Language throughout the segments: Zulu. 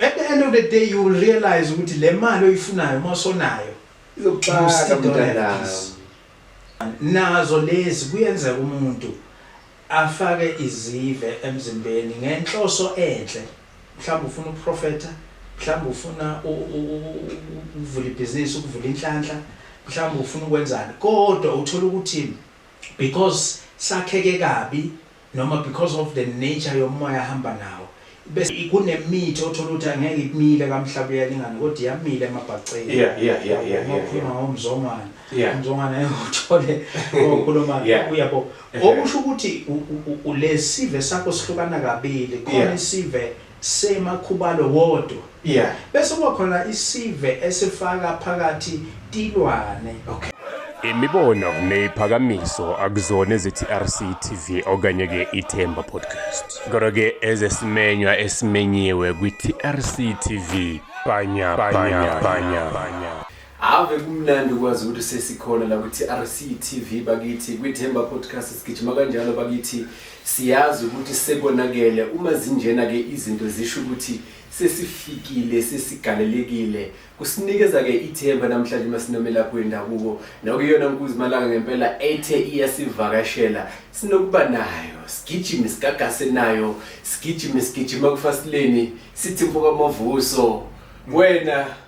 At the end of the day you will realize ukuthi le mali oyifunayo uma usonayo izokuxaka mntanami nazo lezi kuyenzeka umuntu afake izive emzimbeni ngenhloso enhle mhlawumbe ufuna ukuprofetha mhlawumbe ufuna ukuvula ibhizinisi ukuvula inhlanhla mhlawumbe ufuna ukwenzani kodwa uthola ukuthi because sakheke kabi noma because of the nature yomoya ahamba nawo bese kunemithi othola ukuthi angeke ikumile kamhlaba uyalingana kodwa iyamile emabhaceni yeah yeah yeah yeah yeah ukhuluma ngomzongwana umzongwana uthole okhuluma uyabo okusho ukuthi ulesive sakho sihlukana kabili khona isive Sema Khubalo wodwa. Yeah. Bese kuba khona isive esifaka phakathi Tilwane. Okay. Imibono neyiphakamiso akuzona ezeTRC TV okanye ke iThemba Podcast. Kodwa ke ezesimenywa esimenyiwe kwiTRC TV. Bhanya bhanya bhanya. Ave kumnandi ukwazi ukuthi sesikhona la kwi-TRC TV bakithi kwiThemba Podcast sigijima kanjalo bakithi siyazi ukuthi sekonakele uma zinjena ke izinto zisho ukuthi sesifikile sesigalelekile kusinikeza ke ithemba namhlanje masinomelaphi wendabuko nakuyona nkuzi malanga ngempela ethe iyasivakashela sinokuba nayo sigijime sigagase nayo sigijime sigijima kufasileni sithi mfoka mavuso wena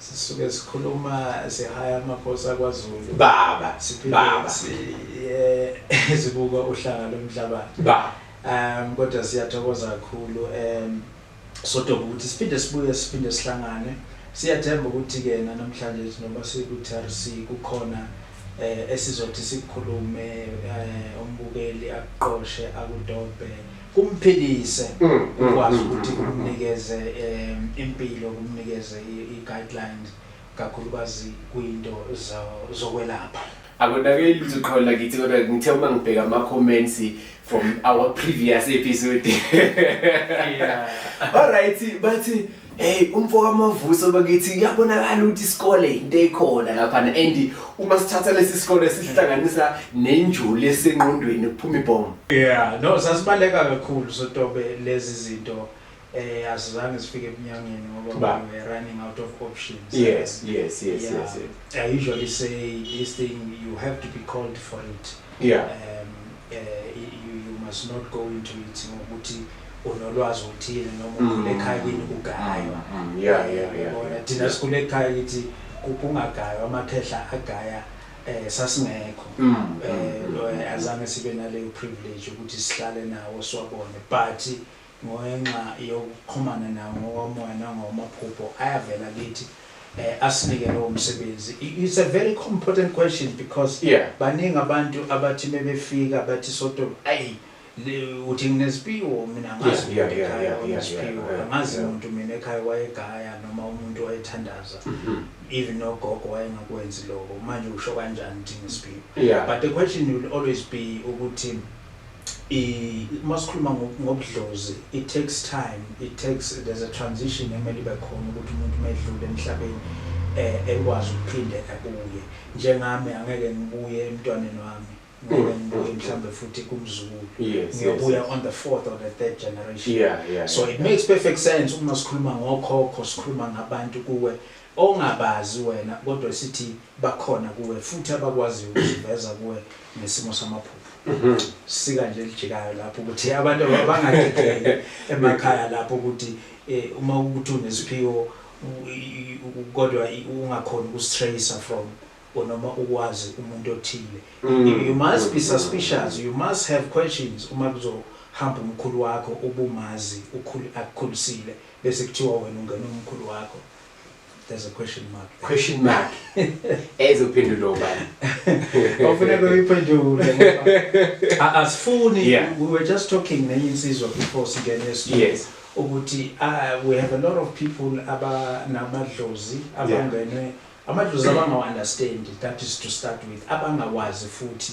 Sisuke sikhuluma sihaya amakhosi akwaZulu. Baba, Siphinde baba, siye sibuka uhlanga lomhlabathi. baba. Um kodwa siyathokoza kakhulu um sodoba ukuthi siphinde sibuye siphinde sihlangane. Siyathemba ukuthi ke namhlanje njengoba siku-TRC kukhona eh esizothi sikukhulume eh umbukeli akuqoshe akudobe kumphilise mm, mm, ukwazi mm, ukuthi kumnikeze um impilo kumnikeze i-guidelines kakhulukazi kwinto zokwelapha akonakeli lutho qholo lakithi kodwa ngithe uma ngibheka ama-comments from our previous episode yeah. all right bathi Hey umfo kaMavuso bakithi kuyabonakala ukuthi isikole into ekhona lapha and uma sithatha lesi sikole sihlanganisa nenjoli esenqondweni kuphuma ibhomu. Yeah, no sasibaleka kakhulu sotobe lezi zinto eh asizange sifike ebunyangeni ngoba we were running out of options yes yes yes yeah. yes, yes i usually say this thing you have to be called for it yeah um, you must not go into it ngokuthi unolwazi oluthile noma mm. ukhule ekhaya kini ugaywa mm, mm, thina sikhule ekhaya kithi kungagaywa amakhehla agaya eh sasingekho eh azange sibe naleyo privilege ukuthi sihlale nawo siwabone but Ngenxa yokuxhumana nawo ngokomoya nangokomaphupho ayavela kithi asinike lowo msebenzi. It's a very important question because yeah. baningi abantu abathi mebefika bathi soto ayi uthi ngineziphiwo mina ngazi umuntu ekhaya oneziphiwo angazi umuntu mina ekhaya wayegaya noma umuntu wayethandaza mm-hmm. even nogogo wayengakwenzi lokho manje usho kanjani ukuthi ngisiphiwo but the question will always be ukuthi Uma sikhuluma ngobudlozi, it takes time, it takes, there's a transition emele ibe khona ukuthi umuntu uma edlule emhlabeni um ekwazi ukuphinde abuye. Njengami angeke ngibuye emntwaneni wami, ngeke mm. ngibuye mhlawumbe futhi kumzukulu. Ngiyobuya on the fourth or the third generation. So it makes perfect sense uma sikhuluma ngokhokho, sikhuluma ngabantu kuwe Ongabazi wena kodwa sithi bakhona kuwe futhi abakwaziyo ukuziveza kuwe ngesimo samaphupho. Sika nje elijikayo lapho ukuthi abantu abangagegeki emakhaya lapho ukuthi eh, uma ukuthi unesiphiwo u- i- i- kodwa i- ungakhona ukustracer from or noma ukwazi umuntu othile. You- You must be suspicious, you must have questions uma kuzohamba umkhulu wakho ubumazi ukhulu akukhulisile. Bese kuthiwa wena ungena umkhulu wakho. There's a question mark. Question mark. Ezophendula ubani? Ofuneka uyiphendule ngoba asifuni yeah. we were just talking nenye insizwa before singene estudio. Yes. ukuthi uh, we have a lot of people abanamadlozi abangenwe yeah. amadlozi abangawa-understand that is to start with abangawazi futhi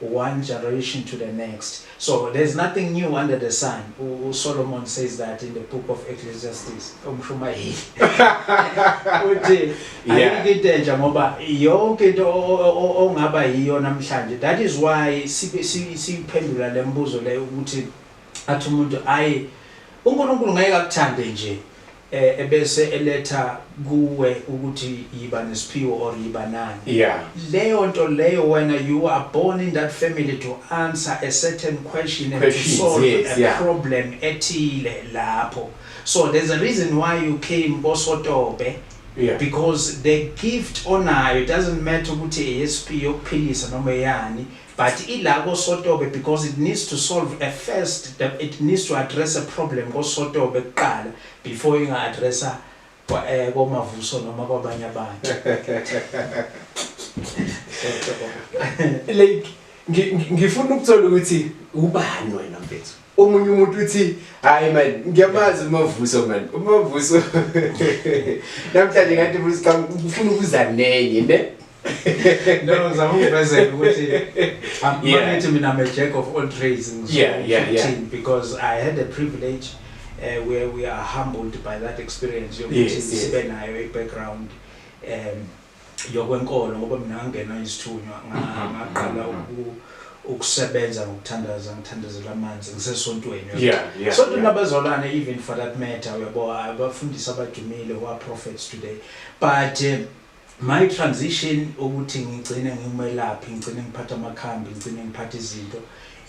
one generation to the next so there's nothing new under the sun u Solomon says that in the book of Ecclesiastes umshumayeli uthi ayikho into entsha ngoba yonke into ongaba yiyo namhlanje that is why siphendula lembuzo leyo ukuthi athi umuntu ayi uNkulunkulu ngeke akuthande nje ebese eletha kuwe ukuthi yiba nesiphiwo or yiba nani yeah. leyo nto leyo wena you are born in that family to answer a certain question and to solve yes, a yeah. problem ethile lapho so there's a reason why you came kosotobe yeah. because the gift onayo doesn't matter ukuthi eyesiphiwo yokuphilisa noma eyani But ila ko Sotobe because it needs to solve a first the, it needs to address a problem ko Sotobe kuqala before inga addressa kwa eh ko Mavuso noma kwabanye abantu. Like ngifuna ukuthola ukuthi ubani wena mfethu. omunye umuntu uthi hayi man ngiyamazi umavuso man umavuso namhlanje ngathi ufuna ukuza nenye ne no ngizama ukuvezela ukuthi amanithi mina i'm a jack of all trades ngizokuthini because i had a privilege uh, where we are humbled by that experience yokuthi sibe nayo i-background um yokwenkolo ngoba mina ngangena isithunywa ngaqala ukusebenza ngokuthandaza ngithandazela amanzi ngisesontweni sonto nabazalwane even for that matter uyabo abafundisi abadumile who are prophets today but eh, my transition ukuthi ngigcine ngimelaphi ngigcine ngiphatha amakhambi ngigcine ngiphatha izinto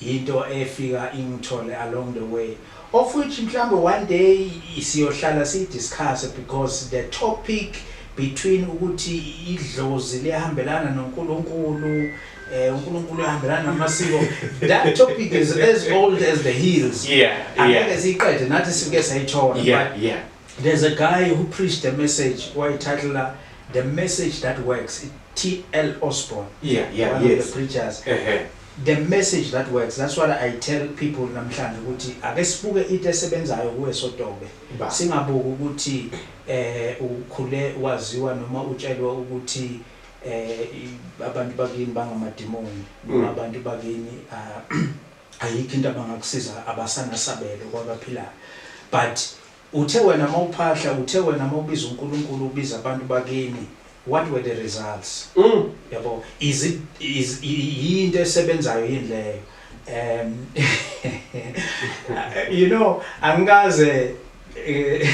Yinto efika ingithole along the way of which mhlawumbe one day siyohlala siyi discuss because the topic between ukuthi idlozi liyahambelana noNkulunkulu eh uNkulunkulu uhambelana namasiko that topic is as old as the hills yeah angeke siqede nathi sike sayithola yeah yeah there's a guy who preached a message why title the message that works T.L. Osborne. Yeah, yeah, one yes. of the preachers. Uh-huh. The message that works that's what I tell people namhlanje ukuthi ake sibuke into esebenzayo kuwe Sotobe singabuki ukuthi eh ukhule waziwa noma utshelwa ukuthi eh abantu bakini bangamadimoni noma mm. abantu bakini ah, ayikho into abangakusiza abasanasabelo kwabaphilayo but Uthe wena mawuphahla uthe wena mawubiza uNkulunkulu ubiza abantu bakini what were the results yabo is it is yinto esebenzayo yini leyo um you know angikaze eh,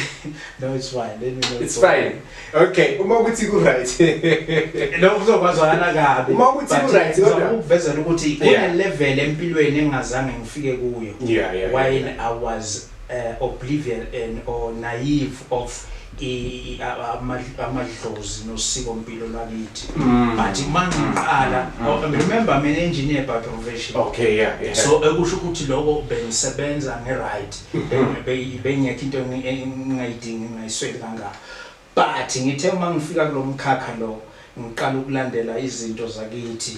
no it's fine let me know it's fine okay uma ukuthi ku right lokho kuzokwazana kabi uma ukuthi ku right kodwa ukuvezela ukuthi kune level empilweni engazange ngifike kuyo yeah yeah why i was uh, oblivion and or naive of amadlozi nosiko mpilo lwakithi mm. but mangiqala mm. oh, remember mina engineer by profession okay yeah, yeah. so ekusho ukuthi lokho bengisebenza ngeright mm-hmm. bengekho into engingayidingi ngayisweli kangaka but ngithe uma ngifika kulo mkhakha lo ngiqala ukulandela izinto zakithi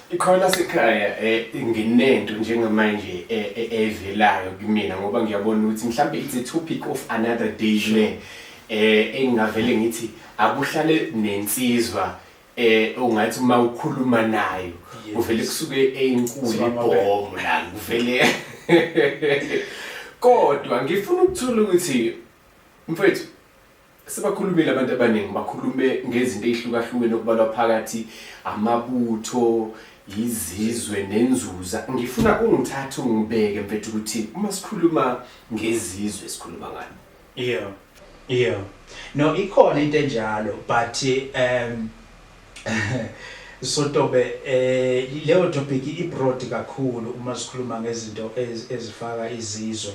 Ikhona sekhaya eh, nginento njengamanje eh, eh, evelayo kumina ngoba ngiyabona ukuthi mhlawumbe it's a topic of another day le eh engingavele ngithi akuhlale nensizwa eh ungathi uma ukhuluma nayo uvele kusuke eyinkulu ibhomu la uvele kodwa ngifuna ukuthola ukuthi mfethu Sebakhulumile abantu abaningi bakhulume ngezinto ey'hlukahlukene okubalwa phakathi amabutho yizizwe nenzuza ngifuna ungithathe ungibeke mfethu ukuthi uma sikhuluma ngezizwe sikhuluma ngani yeah yeah no ikhona into enjalo but um sotobe eh leyo topic ibroad kakhulu uma sikhuluma ngezinto ezifaka izizwe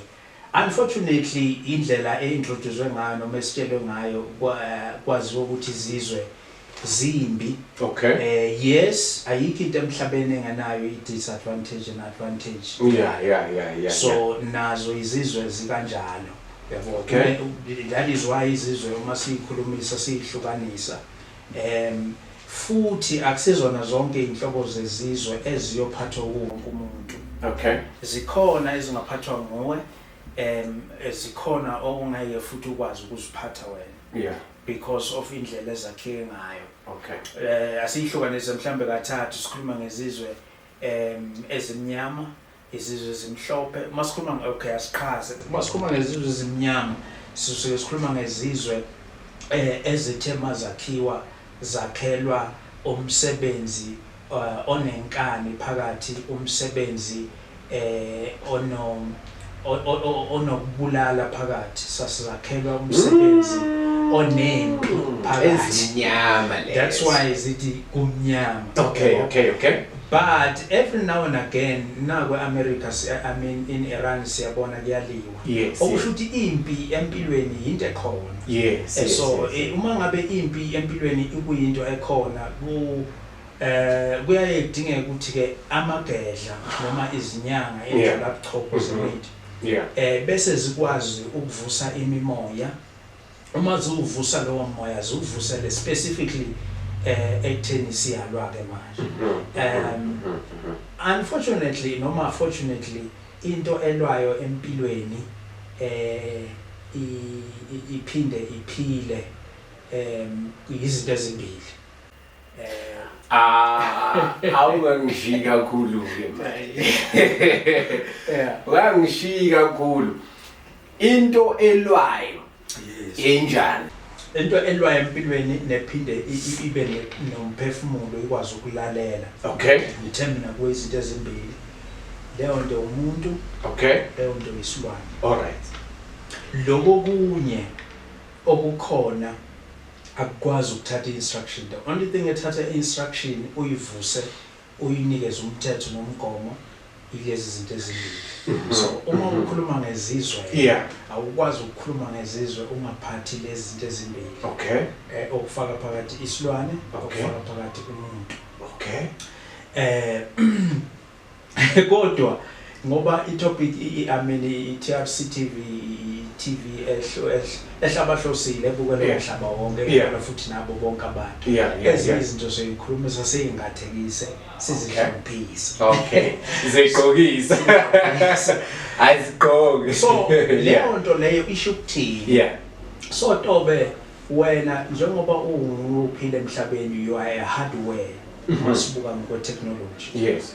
Unfortunately indlela e introduzwe ngayo noma esitshelwe ngayo kwaziwa ukuthi izizwe zimbi. Okay. Eh yes ayikho into emhlabeni engenayo i disadvantage and advantage. Yeah yeah yeah yeah. So nazo izizwe zikanjalo. Yabo. Okay. That is why izizwe uma siyikhulumisa siyihlukanisa. Em, futhi akusizona zonke izinhlobo zezizwe eziyophathwa wuwo wonke umuntu. Okay. Zikhona ezingaphathwa nguwe, em, eh, zikhona okungeke futhi ukwazi ukuziphatha wena Yeah. because of indlela ezakheke ngayo. Okay. Eh, asiyihlukanise mhlambe kathathu sikhuluma ngezizwe em, ezimnyama, izizwe ezimhlophe uma sikhuluma okay asiqhaze uma sikhuluma ngezizwe ezimnyama sisuke sikhuluma ngezizwe eh, ezithe mazakhiwa zakhelwa umsebenzi eh, onenkani phakathi umsebenzi eh ono onokubulala phakathi sasizakhelwa umsebenzi mm. onempi mm. phakathi that's why zithi kumnyama okay okay okay But every now and again naku eAmerica si I mean in Iran siyabona kuyaliwa. Yes. Okusho ukuthi impi empilweni yinto ekhona. Yes. Eh, so yes, yes. Eh, uma ngabe impi empilweni ikuyinto ekhona ku eh kuyaye kudingeka ukuthi ke amagedla noma izinyanga enjalo abuchopho mm-hmm. zemithi. Yeah. Eh bese zikwazi ukuvusa imimoya. Uma ziwuvusa lowo moya ziwuvusele specifically eh ekutheni siyalwa ke manje um unfortunately noma fortunately into elwayo empilweni eh iphinde iphile um izinto ezimbili eh ah awungangishiyi kakhulu ke manje yeah wangishiyi kakhulu into elwayo yenjani into elwayo empilweni nephinde i- ibe ne- nomphefumulo ikwazi ukulalela okay ngithe mina kuyizinto ezimbili leyo nto umuntu okay leyo nto yisilwane all right loko kunye okukhona akukwazi ukuthatha i-instruction the only thing ethatha i-instruction uyivuse uyinikeze umthetho nomgomo ilezi zinto ezimbili mm-hmm. so uma mm-hmm. ukhuluma ngezizwe yeah. awukwazi ukukhuluma ngezizwe ungaphathi lezi zinto ezimbili okay. eh, okufaka phakathi isilwane okay. okufaka phakathi umuntu okay. eh, kodwa Ngoba i topic i I mean i TRC TV i TV ehlo ehlabahlosile ebukelwe yeah. umhlaba wonke yeah. ebukelwe futhi nabo bonke abantu yeah, yeah, ezinye yeah. izinto soyikhulumisa seyingathekise sizihloniphise okay zigqokise ayizigqoki so leyo nto leyo isho ukuthini yeah so tobe wena njengoba unguphile emhlabeni you are a hardware mm-hmm. masibuka ngokwe technology yes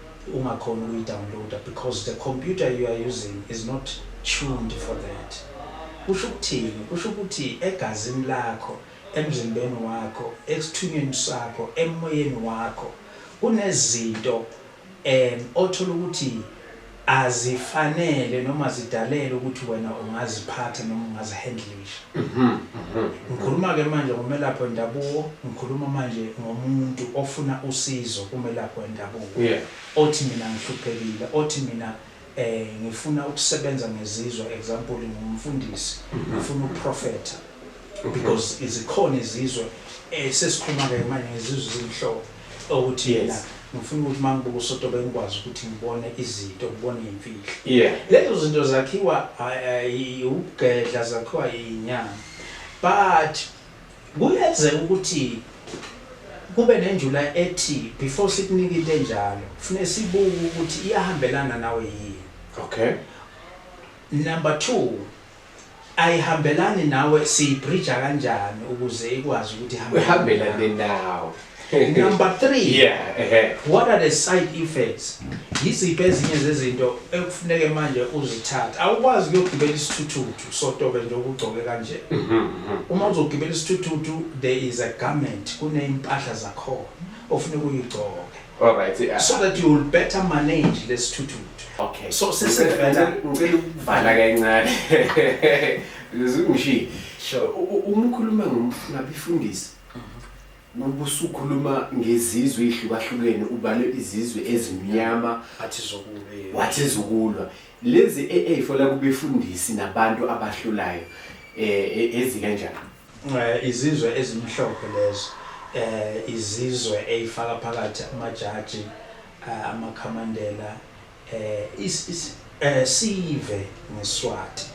ungakhoni ukuyi downloader because the computer you are using is not tuned for that kusho ukuthini kusho ukuthi egazini lakho emzimbeni wakho ekuthunyweni sakho emoyeni wakho kunezinto um othola ukuthi azifanele noma zidalele ukuthi wena ungaziphatha noma ungazihandle Ngikhuluma ke manje ngomelaphi wendabuko, ngikhuluma manje ngomuntu ofuna usizo kumelaphi wendabuko othi mina ngihluphekile, othi mina ngifuna ukusebenza ngezizwe example ngumfundisi ngifuna ukuprofetha because zikhona izizwe esesikhuluma ke manje ngezizwe ezimhlophe. Okuthi yena ngifuna ukuthi uma ngibuka uSotobe ngikwazi ukuthi ngibone izinto, ngibone iy'mfihlo. Yeah. Lezo zinto zakhiwa ukugedla, zakhiwa inyama. But kuyenzeka ukuthi kube nenjula ethi before sikunike into enjalo kufuneka sibuke ukuthi iyahambelana nawe yini. Okay. Number two, Ayihambelani nawe siyibhrija kanjani ukuze ikwazi ukuthi ihambe Ihambelane nawe. Number 3. Yeah, ehe. What are the side effects? Yiziphi ezinye zezinto ekufuneke manje uzithathe? Awukwazi ukuyogibela isithuthuthu sotobe nje okugcoke kanje. Uma uzogibela isithuthuthu there is a garment kuneympahla zakhona ofuneka uyigcoke. All right. Yeah. So that you will better manage this tutu. Okay. So since the better, ngicela ukuvala kancane. Ngizungishiye. Sure. Uma ukhuluma ngomfuna bifundisi. ubusukhuluma ngezizwe ihlukahlukene ubale izizwe ezimnyama athi zokulwa wathi zokulwa lezi AA fola kubefundisi nabantu abahlulayo eh, eh ezikanjani Eh, izizwe ezimhlophe lezo eh, izizwe eyifaka phakathi amajaji eh, amakhamandela eh, is- is- eh, sive ngeswati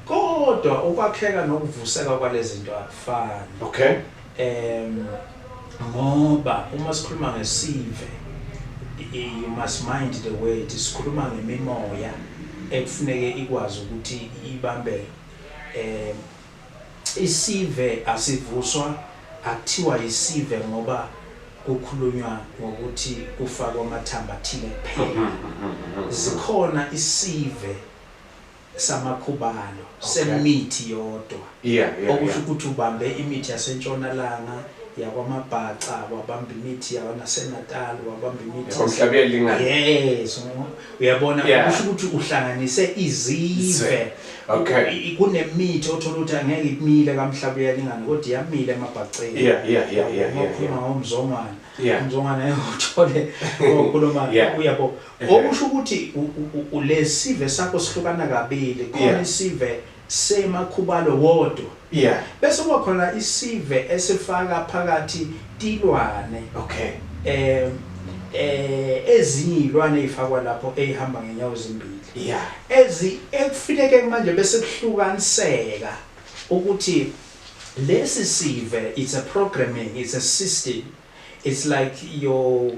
kodwa ukwakheka nokuvuseka kwalezinto akufani Okay. um ngoba uma sikhuluma ngesive i- i- you must mind the word sikhuluma ngemimoya ekufuneke ikwazi ukuthi ibambeke um Isive asivuswa akuthiwa yisive ngoba kukhulunywa ngokuthi kufakwe amathambo athile kuphela. Zikhona isive samakhubalo semithi yodwa okusho ukuthi ubambe imithi yasentshonalanga, yakwaMabhaca, wabamba imithi yaKwaNasenatal, wabamba imithi. Umhlaba uyalingana. Yes. uyabona Yeah. kusho ukuthi uhlanganise izizwe Okay. I- kunemithi othola ukuthi angeke ikumile kamhlaba uyalingana kodwa iyamile emabhaceni Yeah, yeah, yeah, yeah, Uma yeah, ukhuluma yeah. ngomzongwana Yeah. umzongwana ngeke uthole okhuluma Yeah. uyabo Yeah. okusho ukuthi u- u- u- lesive sakho sihlukana kabili khona Yeah. isive Sema Khubalo wodwa. Yeah. Bese kuba khona isive esifaka phakathi tilwane. Okay. Eh eh ezinye izilwane ezifakwa lapho ezihamba ngenyawo ezimbili. Yeah. Ezi ekufineke manje bese kuhlukaniseka ukuthi lesi sive it's a programming, it's a system. It's like your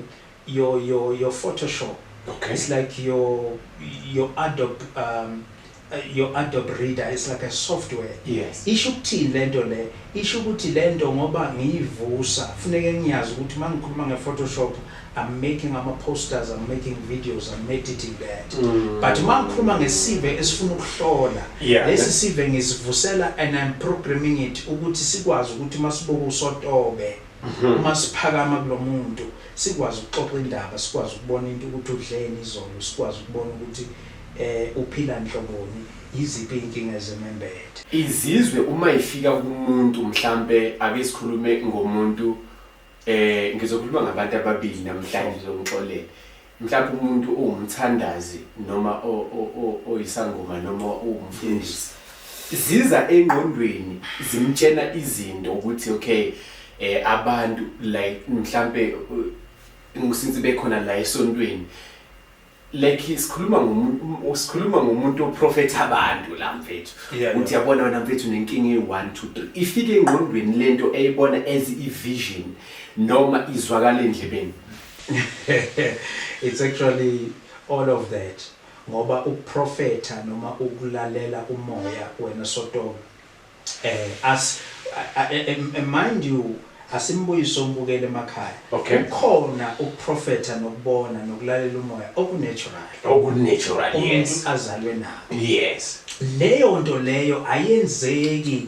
your your your Photoshop. Okay. It's like your your Adobe um uh, your Adobe Reader it's like a software. Yes. Isho ukuthini lento le? Isho ukuthi lento ngoba ngiyivusa kufuneke ngiyazi ukuthi mangikhuluma ngePhotoshop I'm making ama posters, I'm making videos, I'm editing that. Mm. But mangikhuluma ngesive esifuna ukuhlola. Yeah. Lesi sive ngisivusela and I'm programming it ukuthi sikwazi ukuthi masibuka usotobe. Uma siphakama kulo muntu, sikwazi ukuxoxa indaba, sikwazi ukubona into ukuthi udleni izolo, sikwazi ukubona ukuthi um uphila nhloboni, yiziphi iy'nkinga ezimembethe. Izizwe uma ifika kumuntu mhlampe ake sikhulume ngomuntu eh ngizokhuluma ngabantu ababili namhlanje ngizomxolela mhlawumbe umuntu uwumthandazi noma oyisangoma noma uwumfundisi ziza engqondweni zimtshena izinto ukuthi okay eh abantu like mhlambe ngisince bekhona la esontweni like sikhuluma ngomuntu sikhuluma ngomuntu oprofetha abantu la mfethu uthi yabona wena mfethu nenkinga e1 2 3 ifike engqondweni lento eyibona as i vision noma izwakala endlebeni It's actually all of that ngoba ukuprofetha noma ukulalela umoya wena sotobe eh as mind you asimbuyiso umbukele emakhaya okay. ukhona ukuprofetha nokubona nokulalela umoya okunatural okunatural yes umuntu azalwe nako yes leyo nto leyo ayenzeki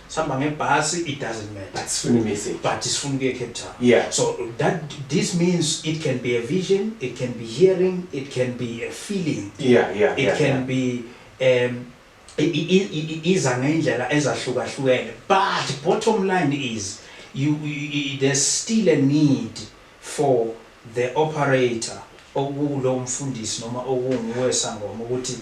sihamba ngebhasi it doesn't matter but sifuna imessage but sifuna ukuye Cape Town yeah so that this means it can be a vision it can be hearing it can be a feeling yeah yeah it yeah, can yeah. be um iza ngendlela ezahlukahlukene but bottom line is you, you there's still a need for the operator okulo mfundisi noma okunguwe sangoma ukuthi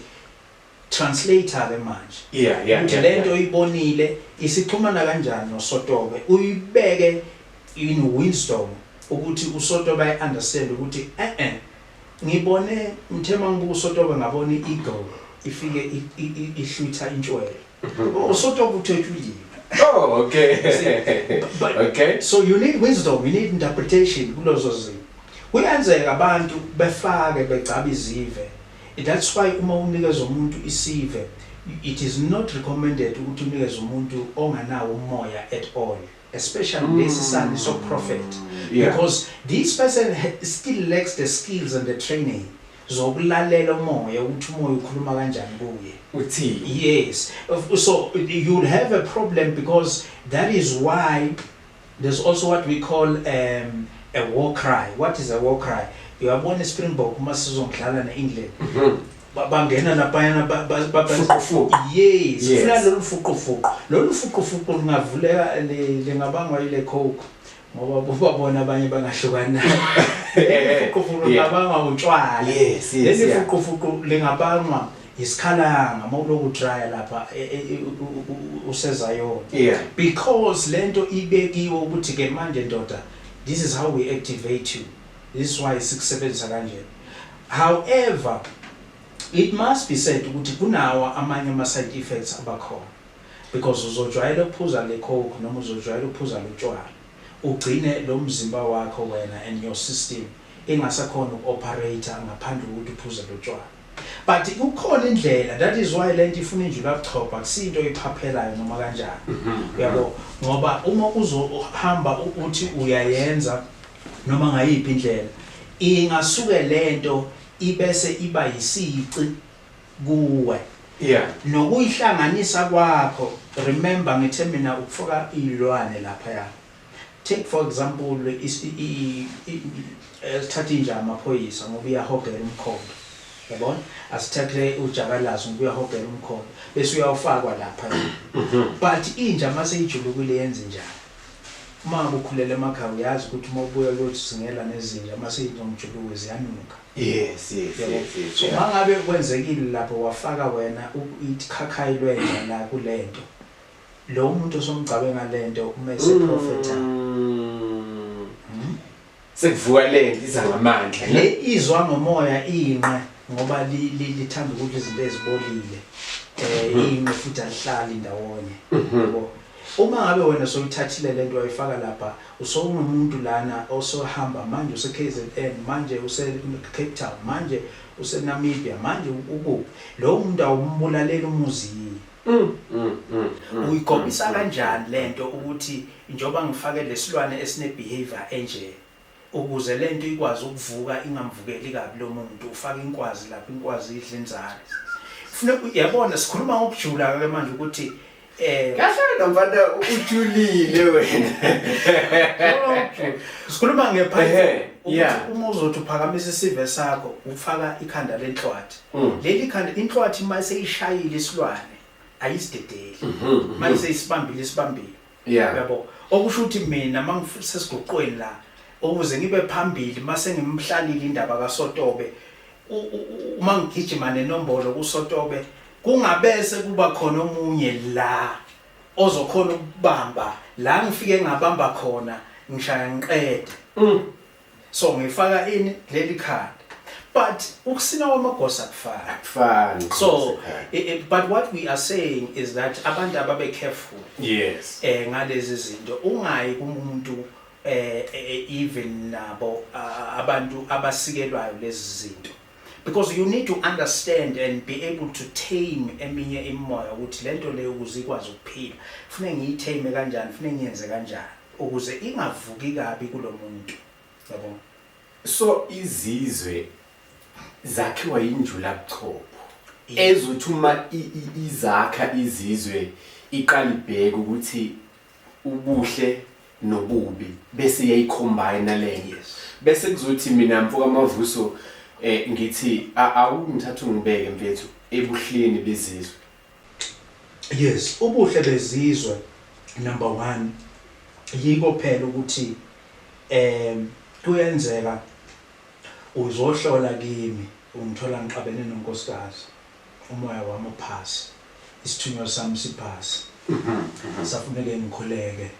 Translator ke manje Yeah yeah ukuthi yeah lento yeah. oyibonile isixhumana kanjani no Sotobe uyibeke in wisdom ukuthi u Sotobe I understand ukuthi eh eh ngibone ngithe mangibuka u Sotobe ngabona i eagle ifike ihlwitha intshwele u Sotobe uthwetshulile Oh okay But okay so you need wisdom you need interpretation kulozo zinto kuyenzeka abantu befake begcaba izive That's why uma unikeza umuntu isive it is not recommended ukuthi unikeze umuntu onganawo umoya at all especially mm. lesi sani so prophet mm. yeah. because this person still lacks the skills and the training zokulalela umoya ukuthi umoya ukhuluma kanjani kuye uthi yes so you'll have a problem because that is why There's also what we call um, a war cry. What is a war cry? Uyabona iSpringbok uma sizongidlala ne-England. Mm -hmm. bangena laphayana bafuqufuqu yes sifuna lolu fuqufuqu lolu fuqufuqu lingavuleka lingabangwa yile coke ngoba bobabona abanye bangahlukani nayo fuqufuqu lingabangwa utshwala leli fuqufuqu lingabangwa Yisikhalanga mawuloku trya lapha useZion because lento ibekiwe ukuthi ke manje ndoda this is how we activate you this is why sikusebenzisa kanje however it must be said ukuthi kunawo amanye ama side effects abakhona because uzojwayela ukuphuza le coke noma uzojwayela ukuphuza lotshwala ugcine lo mzimba wakho wena and your system ingasakhona uku-operator ngaphandle kokuthi uphuze lotshwala But kukhona indlela that is why lento ifuna injula kuchopha kusinto oyiphaphelayo noma kanjani. Mhm. Uyabo ngoba uma uzohamba uthi uyayenza noma ngayiphi indlela ingasuke lento ibese iba yisici kuwe. Yeah. Nokuyihlanganisa kwakho remember ngithe mina ukufaka izilwane lapha ya. Take for example sithathe inja yamaphoyisa ngoba iyahogela umkhondo. Yabona? Asithathe ujakalazi ngoba uyahogela umkhondo. Bese uyawufakwa lapha. Mhm. But inja mase ijulukile yenza njani? Uma ukhulele emakhaya uyazi ukuthi uma ubuya kuyothi singela nezinja mase izomjuluka ziyanuka. Yes, yes, yes, yes. So mangabe kwenzekile lapho wafaka wena ikhakhayi lwenja la kulento. Lo umuntu osomgcabe ngalento uma ese prophetha. Mm. Sekuvuka lento iza ngamandla. Le izwa ngomoya inqe ngoba lithanda ukudla izinto ezibolile. Eh mm-hmm. inqe futhi alihlali ndawonye. Mm-hmm. Yebo. Uma ngabe wena soyithathile lento wayifaka lapha usowunomuntu lana osohamba manje use KZN manje use Cape Town manje useNamibia manje ukuphi lo muntu awumbulaleli umuzi Mm, mm, mm, mm, uyikhombisa mm, mm. kanjani lento ukuthi njoba ngifake lesilwane esine behavior enje ukuze lento ikwazi ukuvuka ingamvukeli kabi lo muntu ufaka inkwazi lapha inkwazi idla inzalo kufuneka uyabona sikhuluma ngokujula ke manje ukuthi eh kahle nomfana ujulile wena sikhuluma ngephathi uma uzothi uphakamisa isive sakho ufaka ikhanda lenhlwathi Mm. leli khanda inhlwathi uma seyishayile isilwane ayisidedeli mm-hmm. manje seyisibambile isibambile uyabo okusho ukuthi mina mangisesiguqweni la ukuze ngibe phambili mase ngimhlalile indaba kaSotobe uma ngigijima nenombolo kuSotobe kungabese kuba khona omunye la ozokhona ukubamba la ngifike ngabamba khona ngishaya ngiqede mm. so ngifaka ini leli khanda but ukusina kwamagosa kufana kufana so it, it, but what we are saying is that abantu ababe careful yes eh ngalezi zinto ungayi kumuntu eh, eh, eh even nabo abantu abasikelwayo lezi zinto because you need to understand and be able to tame eminye imimoya ukuthi lento leyo ukuze ikwazi ukuphila kufanele ngiyithame kanjani kufanele ngiyenze kanjani ukuze ingavuki kabi kulomuntu yabo so izizwe zakhiwa injula buchopho ezothi uma izakha izizwe iqala ibheke ukuthi ubuhle nobubi bese yayicombine leyo bese kuzothi mina mfoka mavuso eh ngithi awungithatha ungibeke mfethu ebuhleni bezizwe Yes ubuhle bezizwe number one yiko phela ukuthi um kuyenzeka uzohlola kimi ungithola ngixabene nonkosikazi umoya wami uphasi isithunywa sami siphasi safuneke ngikhuleke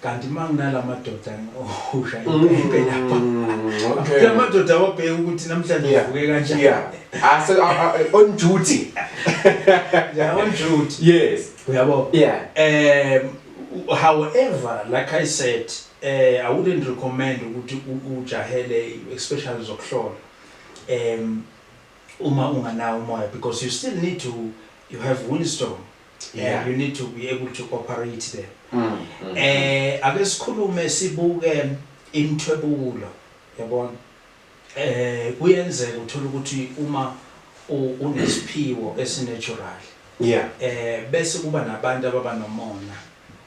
Kanti uma nginala madoda ngihusha impempe lapha. Okay. La madoda awabheke ukuthi namhlanje Yeah. uvuke kanjani. Yeah. Ase a- a- a- on duty. Yeah, on duty. Yes. Uyabo? Yeah. Um, however, like I said, uh, I wouldn't recommend ukuthi u- ujahele especially zokuhlola. Um, uma unganawo umoya because you still need to you have wisdom Yeah. you need to be able to operate there Mm, mm. eh ake sikhulume sibuke imthwebulo yabona eh kuyenzeka uthola ukuthi uma u- unesiphiwo esinatural Yeah. eh bese kuba nabantu ababa nomona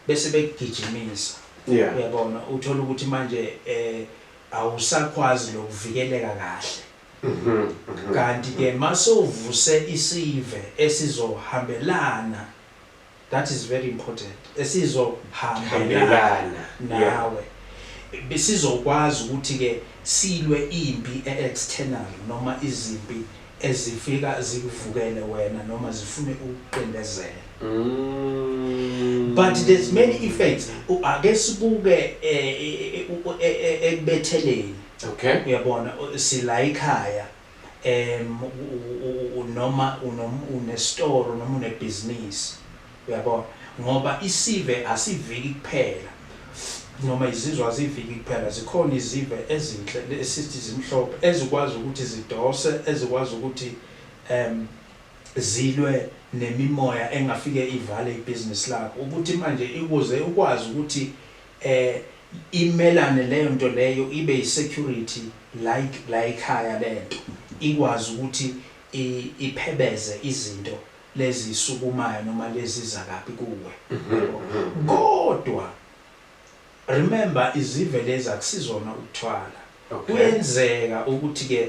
bese bekugijimisa Yeah. uyabona uthola ukuthi manje eh awusakwazi lokuvikeleka kahle Kanti ke masewuvuse isive esizohambelana that is very important esizo hambelana nawe sizokwazi ukuthi ke silwe impi e external noma izimpi ezifika zikuvukele wena noma zifune ukuqindezela mm. but there's many effects ake sibuke eh, eh, eh, ekubetheleni Okay. Uyabona u- sila ikhaya em u- u- u- u- noma unom- unestoro noma unebhizinisi uyabona ngoba isive asiviki kuphela noma izizwe aziviki kuphela zikhona izive ezinhle le- esithi zimhlophe ezikwazi ukuthi zidose ezikwazi ukuthi em zilwe nemimoya engafike ivale ibhizinisi lakho ukuthi manje ikuze ukwazi ukuthi Eh imelane leyonto leyo ibe yi security like layikhaya lento ikwazi ukuthi i iphebeze izinto lezisukumayo noma leziza kabi kuwe yabo kodwa remember izive lezi akusizona ukuthwala kuyenzeka ukuthi ke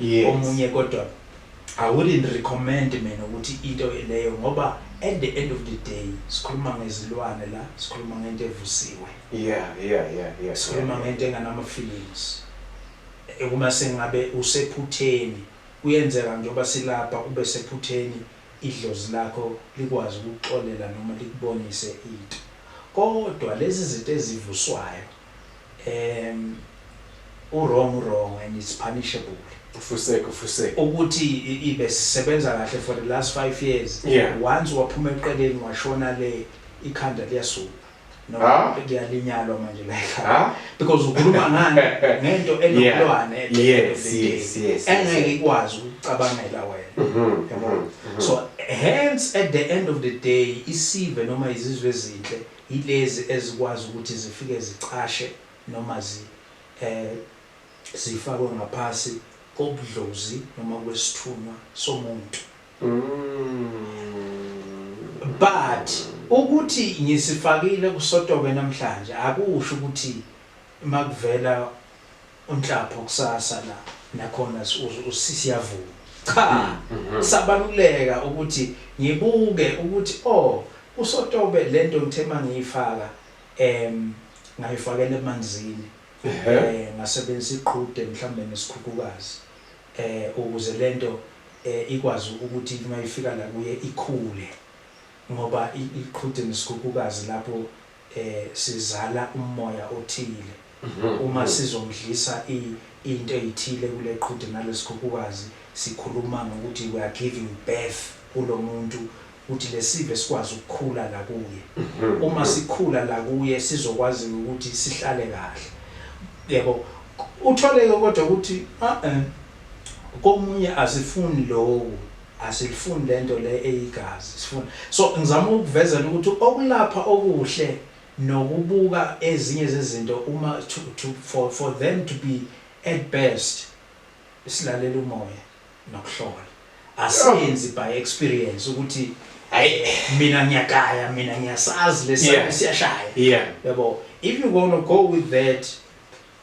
yes. omunye kodwa I wouldn't recommend mina ukuthi into leyo ngoba at the end of the day sikhuluma ngezilwane la sikhuluma ngento evusiwe yeah yeah yeah yeah sikhuluma yeah, ngento enganama feelings eh, uma sengabe usephutheni kuyenzeka njengoba silapha ube sephutheni idlozi lakho likwazi ukuxolela noma likubonise into kodwa lezi zinto ezivuswayo em uwrong uwrong and it's punishable ufuseke ufuseke ukuthi ibe sisebenza kahle for the last five years yeah. once waphuma eqeleni washona le ikhanda liyasuka no ah? liyalinyalwa manje la ah? because ukhuluma ngani ngento enokulwane yes yes yes engeke ikwazi ukucabangela wena mm-hmm, yabo mm-hmm, mm-hmm. so hence at the end of the day isive noma izizwe ezinhle Yilezi ezikwazi ukuthi zifike zicashe noma zi eh zifakwe ngaphasi kobudlozi noma kwesithunywa somuntu. But ukuthi ngisifakile kusotobe namhlanje akusho ukuthi Makuvela uNhlapho kusasa la nakhona siyavuma. Cha, sabaluleka ukuthi ngibuke ukuthi o uSotobe lento ngithe mangiyifaka em ngayifakela emanzini eh ngasebenzisa iqhude mhlawumbe nesikhukhukazi eh ukuze lento eh ikwazi ukuthi uma ifika la kuye ikhule ngoba iqhude nesikhukhukazi lapho eh sizala ummoya othile uma sizomdlisa i into eyithile kuleqhude nalesikhukhukazi sikhuluma ngokuthi we are giving birth kulomuntu ukuthi lesive sikwazi ukukhula la kuye uma sikhula la kuye sizokwazi ukuthi sihlale kahle yebo uthole ke kodwa ukuthi a komunye azifuni lowo Asilifuni lento le eyigazi sifuna so ngizama ukuvezela ukuthi okulapha okuhle nokubuka ezinye zezinto uma to, to, for, for them to be at best silalela umoya nokuhlola asenzi by experience ukuthi hayi mina ngiyagaya mina ngiyasazi lesi siyashaya yabo if you gonna go with that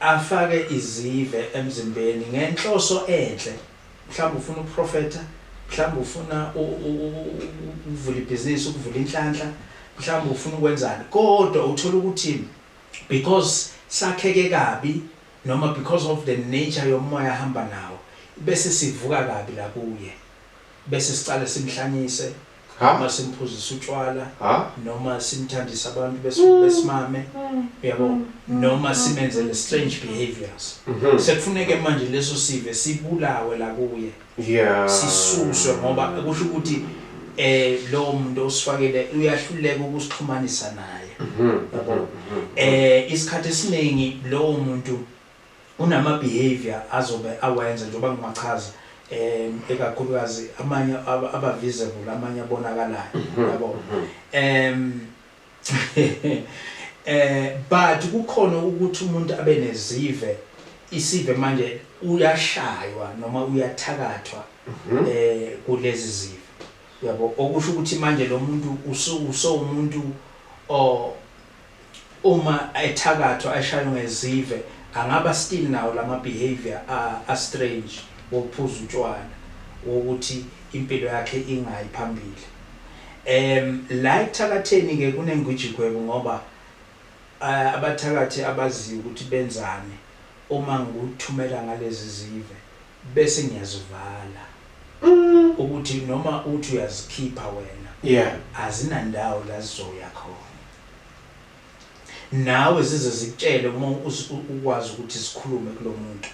afake izive emzimbeni ngenhloso enhle mhlawumbe ufuna ukuprofetha mhlawumbe ufuna ukuvula ibhizinisi ukuvula inhlanhla mhlawumbe ufuna ukwenzani kodwa uthola ukuthi because sakheke kabi noma because of the nature yomoya ahamba nawo bese sivuka kabi la kuye bese siqale simhlanyise noma simphuzise utshwala noma simthandise abantu mm. besimame mm. yabo mm. noma simenzele strange behaviors mm-hmm. sekufuneke manje leso sive sibulawe la kuye yeah sisuswe ngoba kusho ukuthi eh lo muntu osifakele uyahluleka ukusixhumanisa naye mm-hmm. yabo mm-hmm. eh isikhathi esiningi lo muntu Kunama behavior azobe awenza njengoba ngiwachaza um ekakhulukazi amanye aba visible amanye abonakalayo mhm, yabo mhm. um eh but kukhona ukuthi umuntu abe nezive isive manje uyashaywa noma uyathakathwa mhm. eh kulezi zive yabo okusho ukuthi manje lo muntu usewumuntu o Uma ethakathwa eshaywa ngezive angaba still nawo lama behaviour a a strange wokuphuza utshwala wokuthi impilo yakhe ingayi phambili. Em la ekuthakatheni ke kunengwijigwebu ngoba abathakathi abaziyo ukuthi benzani uma ngikuthumela ngalezi zive. Bese ngiyazivala ukuthi noma uthi uyazikhipha wena azinandawo la zizoya khona. Nawe zize zikutshele uma ukwazi ukuthi zikhulume kulo muntu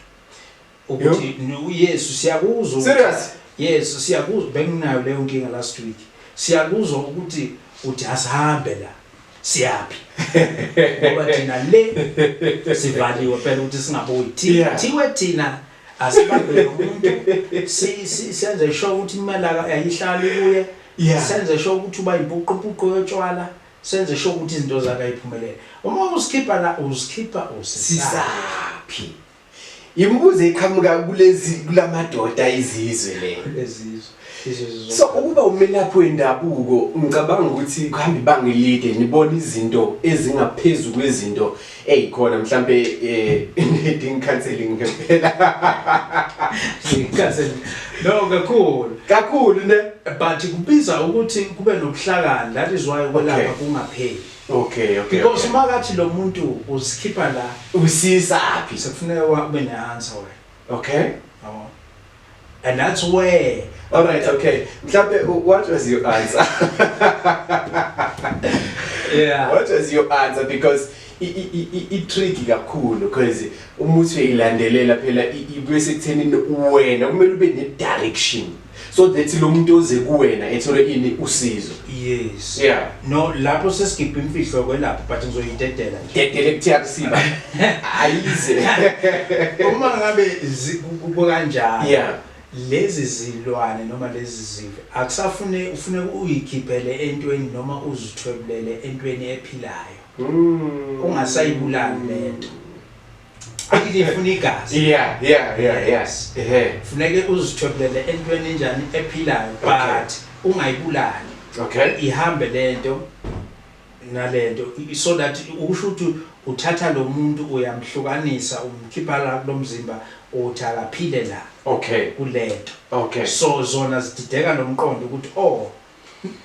ukuthi uYesu siyakuzwa. Serious? Yes, siyakuzwa benginayo leyo nkinga last week. Siyakuzwa ukuthi uthi asihambe la. siyaphi ngoba thina le sivaliwe phela ukuthi singabuyi thiwe thina asibambe umuntu senze sho ukuthi imali ayihlali kuye senze sho ukuthi uba impuqupuqu yotshwala senze sho ukuthi izinto zakhe ayiphumelele uma usikhipha la usikhipha usisaphi Imibuzo eqhamuka kulezi kulamadoda izizwe le. Ezizwe. So ukuba umelaphi wendabuko ngicabanga ukuthi kuhamba ibanga elide nibona izinto ezingaphezulu kwezinto ezikhona mhlambe eh needing counseling ngempela. Counseling. No kakhulu. Kakhulu ne but kubiza ukuthi kube nobuhlakani that is why ukwelapha kungapheli. Okay, okay. Because uma okay. kathi lo muntu usikhipha la usisa aphi? Sekufuneka wabe ne answer wena. Okay. Yabo. And that's where All right, okay. Mhlambe what was your answer? yeah. What was your answer because i-tricky kakhulu because umuthi uyilandelela phela ibe sekuthenini wena kumele ube ne-direction so that lo muntu oze kuwena ethole ini usizo yes yeah no lapho sesigibha imfihlo kwelapho but ngizoyidedela nje dedele kuthiya kusiba ayize uma ngabe kubo kanjalo yeah lezi zilwane noma lezi zive akusafune ufune uyikhiphele entweni noma uzithwebulele entweni ephilayo mm. ungasayibulali lento Akike funa igazi. Yeah, yeah, yeah, yes. Ehe. Funeke uzithobele entweni enjani ephilayo but ungayibulali. Okay. Ihambe lento nalento so that usho ukuthi uthatha lo muntu uyamhlukanisa umkhipha la kulomzimba uthi akaphile la. Okay. Kulento. Okay. So zona zidideka nomqondo ukuthi oh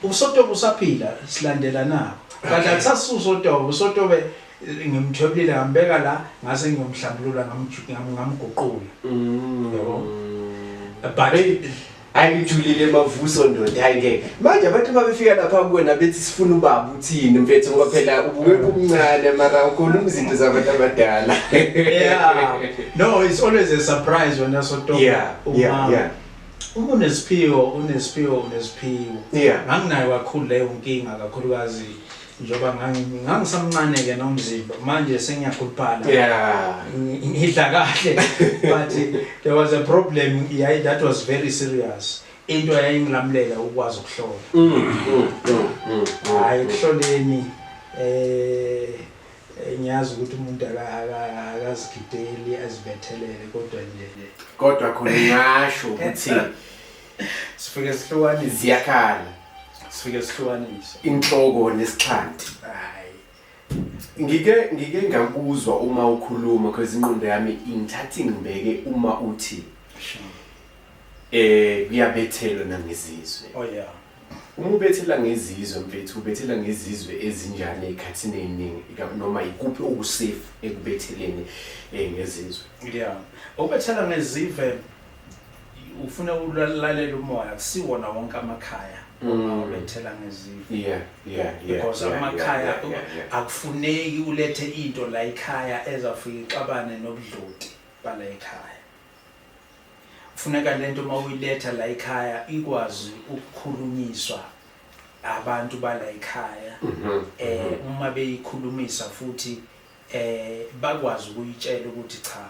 Usotobe usaphila silandela nako. Kanti akusasusa utobe, usotobe eh, ngimthwebulile ngambeka la ngase ngiyomhlambulula ngamju- ngam- ngamguqula. Mm. Yabo. But ayijulile mavuso ndoda hayi ngeke manje abantu babefika lapha kuwena bethi sifuna ubaba uthini mfethu ngoba phela ubukeka umncane mara ukhuluma izinto zabantu abadala yeah. No, it's always a surprise when I saw Togo. Yeah, yeah, Uma- yeah. Uma unesiphiwo unesiphiwo unesiphiwo yeah. nganginayo kakhulu leyo nkinga kakhulukazi njengoba ngangisamncane-ke nomzimba manje sengiyakhuluphala yeah. ngidla kahle but there was a problem yayi that was very serious into yayingilamulela ukwazi ukuhlola mm, mm, mm, hayi ekuhloleni um Ngiyazi ukuthi umuntu akazigideli azibethelele kodwa nje kodwa khona ngasho ukuthi sifike sihlukanise ziyakhala sifike sihlukanise inhloko nesixhanti hayi ngike ngike ngakuzwa uma ukhuluma because inqondo yami ingithatha ngibeke uma uthi eh kuyabethelwa nangezizwe oh yeah Uma ubethela ngezizwe mfethu ubethela ngezizwe ezinjani ey'khathini ey'ningi ika- noma yikuphi okusefu ekubetheleni um ngezizwe yeah obethela ngezive ufuna ukulalela umoya kusiwona wonke amakhaya uma Mm. ubethela ngezive yeah yeah yeah because yeah, amakhaya yeah, yeah, yeah. akufuneki ulethe into la ekhaya ezafika ixabane nobudloti bala ekhaya Kufuneka le nto uma uyiletha la ekhaya ikwazi ukukhulunyiswa abantu bala ekhaya um uma beyikhulumisa futhi um bakwazi ukuyitshela ukuthi cha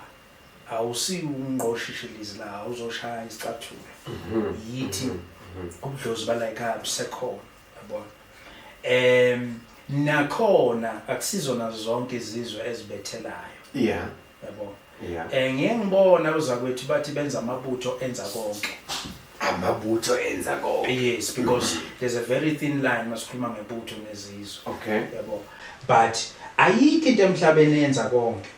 awusiwungqoshishilizi la awuzoshaya isicathulo mhm. yithi mhm. mhm. ubudlozi bala ekhaya busekhona yabona um nakhona akusizona zonke izizwe ezibethelayo yeah yabo yeah. um ngiye ngibona uzakwethu bathi benza amabutho enza konke amabutho enza konke yes because there's a very thin line masikhuluma ngebutho nezizwe okay yabo but ayikho into emhlabeni yenza konke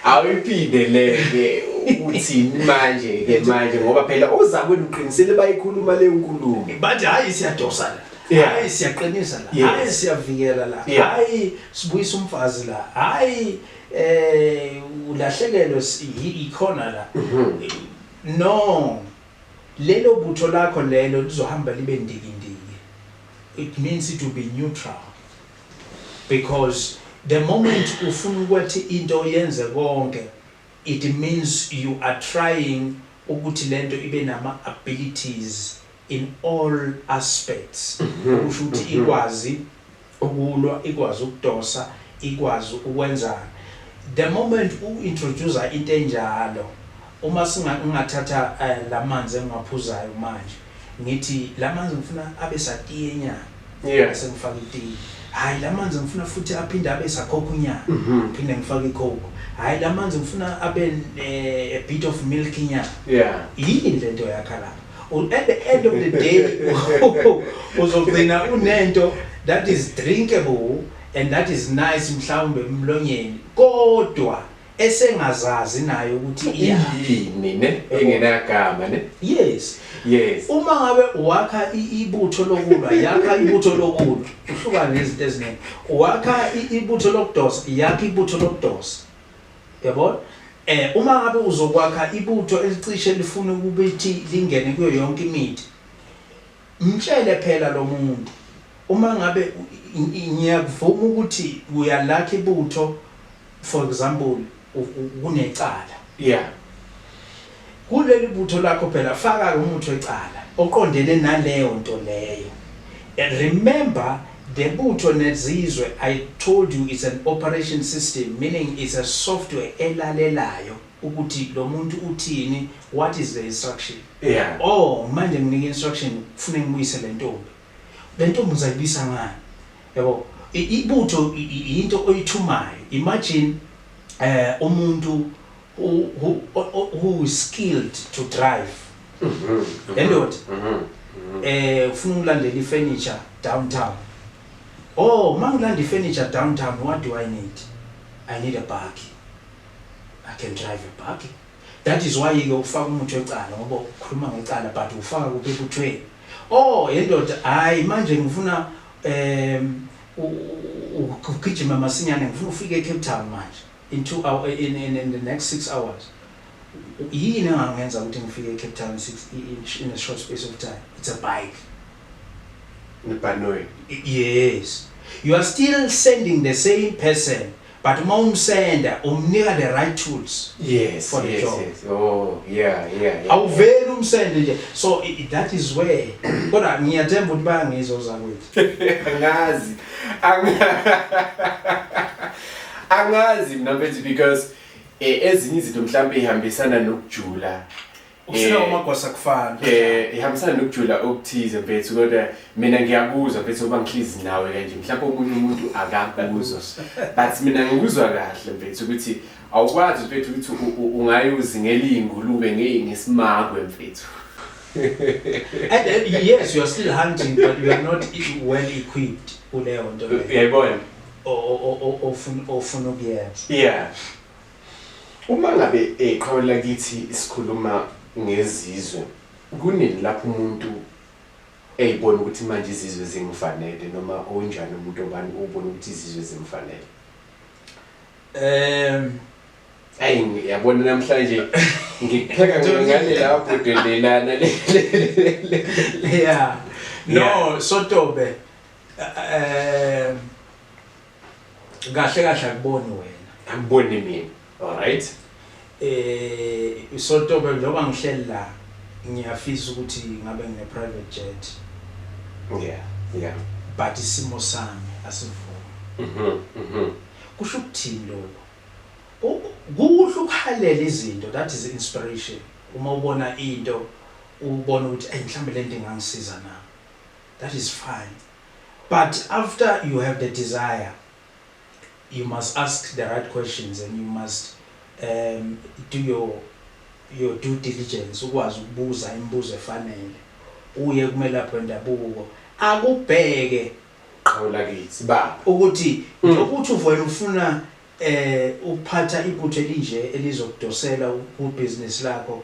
awuyiphinde leke uthini manje ke manje ngoba phela ozakwenu uqinisele bayikhuluma le nkulumo bathi hayi siyadosana Yeah. hayi siyaqinisa la Yes. hayi siyavikela la Yeah. hayi sibuyisa umfazi la hayi eh ulahlekelwe si- yi- ikhona la Mm-hmm. no lelo butho lakho lelo lizohamba libe ndikindiki it means it will be neutral because the moment ufuna ukuthi into yenze konke it means you are trying ukuthi lento ibe nama abilities in all aspects okusho ukuthi ikwazi ukulwa, ikwazi ukudosa, ikwazi ukwenzani. The moment u introducer into enjalo, uma singa ngingathatha lamanzi engiwaphuzayo manje ngithi lamanzi ngifuna abe satiyenyana, Yeah. Sengifaka itiyi. Hayi lamanzi ngifuna futhi aphinde abe sakhokunyana. Mhm. Phinde ngifake icoke. Hayi lamanzi ngifuna abe eh, a bit of milk nyana. Yeah. Yini lento yakha lapha? U- At the end of the day uzogcina unento that is drinkable and that is nice mhlawumbe emlonyeni kodwa esengazazi nayo ukuthi iyini ne engenagama ne yes yes uma ngabe wakha ibutho lokulwa yakha ibutho lokulwa uhlukana nezinto eziningi wakha ibutho lokudosa yakha ibutho lokudosa yabona eh uma ngabe uzokwakha ibutho elicishe lifuna ukubithi lingene kuyo yonke imithi Mtshele phela lomuntu uma ngabe ngiyakuvuma ukuthi uyalakha ibutho for example kunecala yeah kuleli butho lakho phela faka umuntu wecala oqondene naleyo nto leyo and remember the butho nezizwe i told you it's an operation system meaning it's a software elalelayo ukuthi lomuntu uthini what is the instruction yeah. or oh, manje nginika instruction kufune ngibuyise lentombi lentombi uzayibisa ngani yabo ibutho into oyithumayo imagine eh umuntu who who who is skilled to drive mhm endoda mhm, mhm, mhm. eh ufuna ukulandela ifurniture downtown oh mangilanda ifurniture downtown what do i need i need a buggy I can drive a buggy. That is why ke ufaka umuntu wecala ngoba ukhuluma ngecala but ufaka kuphi kuthweni. Oh yendoda hayi manje ngifuna um ugijima masinyane ngifuna ufike eCape Town manje in 2 hour in, in, in the next 6 hours. Yini engangenza ukuthi ngifike eCape Town in, six, in, in a short space of time? It's a bike. Nebhanoyi. Yes. You are still sending the same person But uma umsenda umnika the right tools yes, for the yes, job. Yes. Oh, yeah, yeah, yeah. Awuveli umsende nje. So i- i- that is where. Kodwa ngiyathemba ukuthi bayangizwa ozakwethu. angazi Anga- angazi mina mfethu because eh, ezinye izinto mhlawumbe ihambisana nokujula Usina eh, uMagwasa kufana. Eh ihambisana nokujula okuthize mfethu kodwa mina ngiyakuzwa mfethu uba ngihlizi nawe kanje mhlawumbe omunye umuntu akakuzwa. But mina ngikuzwa kahle mfethu ukuthi awukwazi mfethu ukuthi ungayozi ngelingulube ngesimagwe mfethu. And uh, yes you are still hunting but you are not well equipped kuleyo nto. Yayibona. Ofuna ofuna ukuyenza. Yeah. Uma ngabe iqhawe lakithi sikhuluma ngezizwe, kunini lapho umuntu eyibona ukuthi manje izizwe zingifanele noma unjani umuntu obani ubona ukuthi izizwe zimfanele? Ehm Ayi yabona namhlanje ngipheka ngale lapho delelana le. Yeah. No, sotobe. Ehm Kahle kahle akuboni wena. Akuboni mina. All right. Eh usotobe njengoba ngihleli la ngiyafisa ukuthi ngabe ngine private jet. Yeah, yeah. But isimo sami asivumi. Mhm, mhm. Kusho ukuthini lokho? kuhle ukukhalela izinto that is inspiration uma ubona into ubona ukuthi ayi mhlambe lento ingangisiza na that is fine But after you have the desire you must ask the right questions and you must um, do your, your due diligence ukwazi ukubuza imibuzo efanele uye kumelaphi wendabuko akubheke qhawe lakithi baba ukuthi mm. njengokuthi uvele ufuna eh ukuphatha ibutho elinje elizokudosela ku business lakho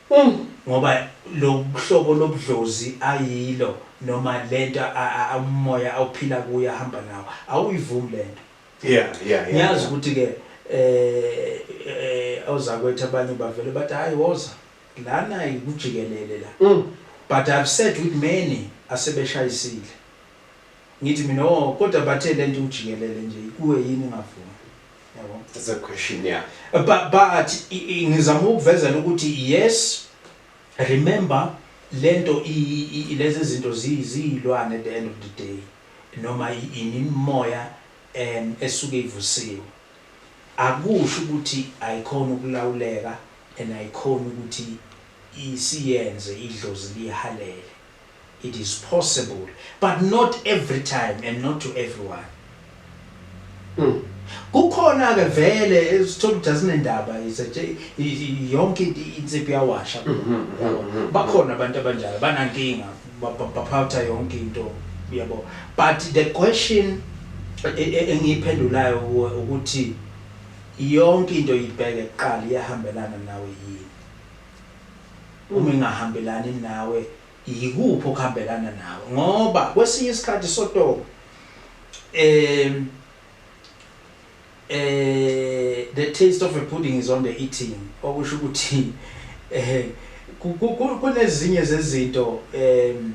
Umm ngoba lohlobo lobudlozi ayilo noma lento umoya awuphila kuyo ahamba nawo awuyivumi lento Yeah yeah yeah ngiyazi ukuthi ke eh ozakwethu abanye bavele bathi hayi woza lana ikujikelele la Umm but I've said with many asebeshayisile ngithi mina oh kodwa bathe lento iwujikelele nje kuwe yini ingavumi. That's a question yeah. But but ngizama ukuvezela ukuthi yes remember lento lezi zinto ziyizilwane at the end of the day noma imimoya em esuke ivusiwe akusho ukuthi ayikhona ukulawuleka and ayikhona ukuthi isiyenze idlozi lihalele It is possible but not every time and not to everyone. Mm. Kukhona ke vele sithola ukuthi asinendaba yonke insipho yawasha. Mm -hmm, mm -hmm, mm -hmm. Bakhona abantu abanjalo banankinga baphatha yonke into yabo. But the question e, e, engiyiphendulayo ukuthi yonke into ibheke kuqala iyahambelana nawe yini? Uma engahambelani nawe yikuphi okuhambelana nawe ngoba kwesinye isikhathi sotoba um eh the taste of a pudding is on the eating okusho ukuthi eh kunezinye zezinto um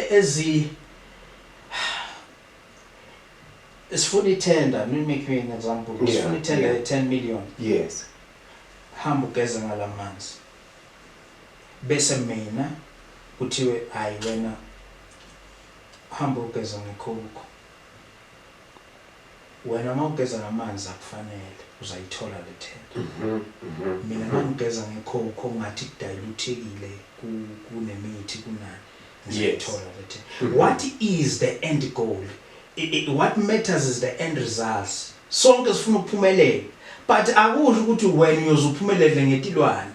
ezi Sifuna itender, me make you an example. Yeah, Sifuna itender yeah. ye 10 million. Yes. Hamba ugeze ngalamanzi. Bese mina kuthiwe hayi wena hamba ugeza ngekhukhu. Wena uma ugeza ngamanzi akufanele uzayithola le tender. Mhm. Mhm. Mina mangigeza ngekhukhu ngathi kudayiluthekile ku- kunemithi kunani. ngizothola ukuthi what is the end goal what matters is the end results sonke sifuna ukuphumelela but akusho ukuthi wena uyozuphumelele ngetilwane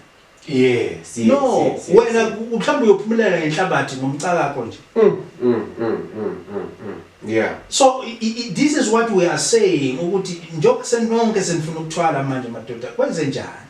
yes yes no yes, yes, wena mhlawumbe uyophumelela ngenhlabathi ngomcakakho nje mm, mm, mm, mm, mm, mm. yeah so i, i, this is what we are saying ukuthi njengoba senonke senifuna ukuthwala manje madoda kwenze njani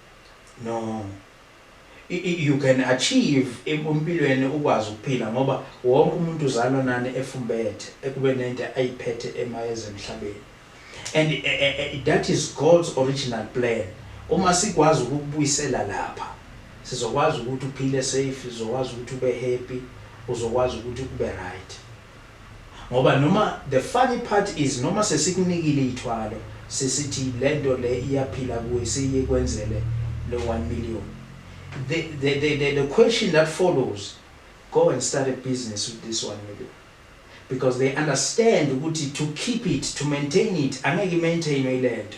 No you can achieve empilweni ukwazi ukuphila ngoba wonke umuntu uzalwa nani efumbethe ekube nento ayiphethe emayezemhlabeni and eh, eh, eh, that is God's original plan uma sikwazi ukubuyisela lapha sizokwazi ukuthi uphile safe sizokwazi ukuthi ube happy uzokwazi ukuthi ube right Ngoba noma the funny part is noma sesikunikile iythwalo sesithi lento le iyaphila kuwe seyikwenzele lo one million the the the the the question that follows go and start a business with this one million because they understand ukuthi to keep it to maintain it angeke imaintainwe ilento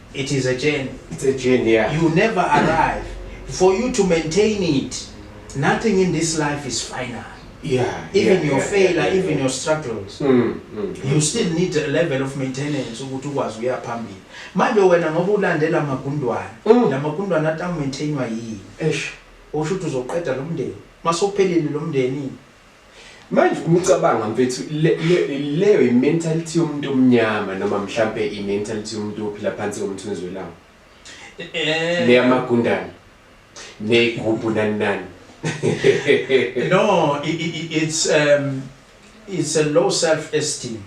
It is a journey. It's a journey, yeah. You never arrive. For you to maintain it, nothing in this life is final. Yeah. Even yeah, your yeah, failure, yeah, yeah, even yeah. your struggles. Mm, mm, you still need a level of maintenance ukuthi ukwazi uya phambili. Manje wena ngoba ulandela amagundwana, mm. la magundwana ata maintainwa yini? Eish. Usho ukuthi uzoqeda lo mndeni. Masophelile lo mndeni. Manje uma ucabanga mfethu le- le- leyo i-mentality yomuntu omnyama noma mhlampe i-mentality yomuntu ophila phansi komthunzi welanga Eh, leyamagundane neyigubhu nani nani no, i- i- i- it's um, it's a low self-esteem.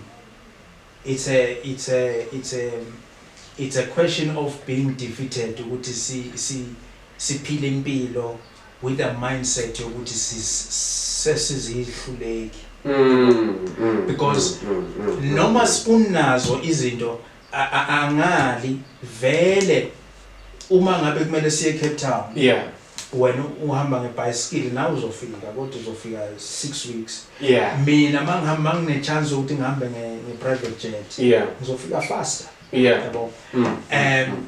It's a it's a it's a it's a question of being defeated ukuthi si si siphile impilo with a mindset yokuthi sesizihluleki because noma unazo izinto angali vele uma ngabe kumele siye Cape Town yeah wena uhamba ngebhayisikili nawe uzofika kodwa uzofika six weeks yeah. mina mangihamba nginechance yokuthi ngihambe nge-private jet yeah. ngizofika faster yeah. yabo mm. um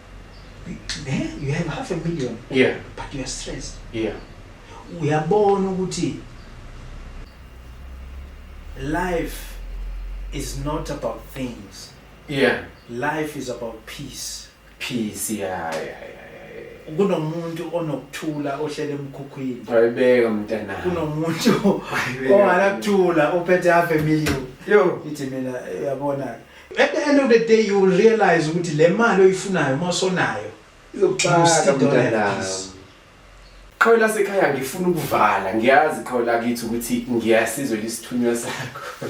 Eh, you have half a million yeah but you are stressed yeah uyabona ukuthi life is not about things yeah life is about peace peace yeah yeah, yeah. kunomuntu onokuthula ohlele emkhukhwini ayibeka mntana kunomuntu ongalakuthula ophethe half a million yo ithi mina uyabona ke At the end of the day you will realize ukuthi le mali oyifunayo uma usonayo izokuxaka mntanami. Qhawe lasekhaya ngifuna ukuvala ngiyazi qhawe lakithi ukuthi ngiyasizwe lisithunywa sakho.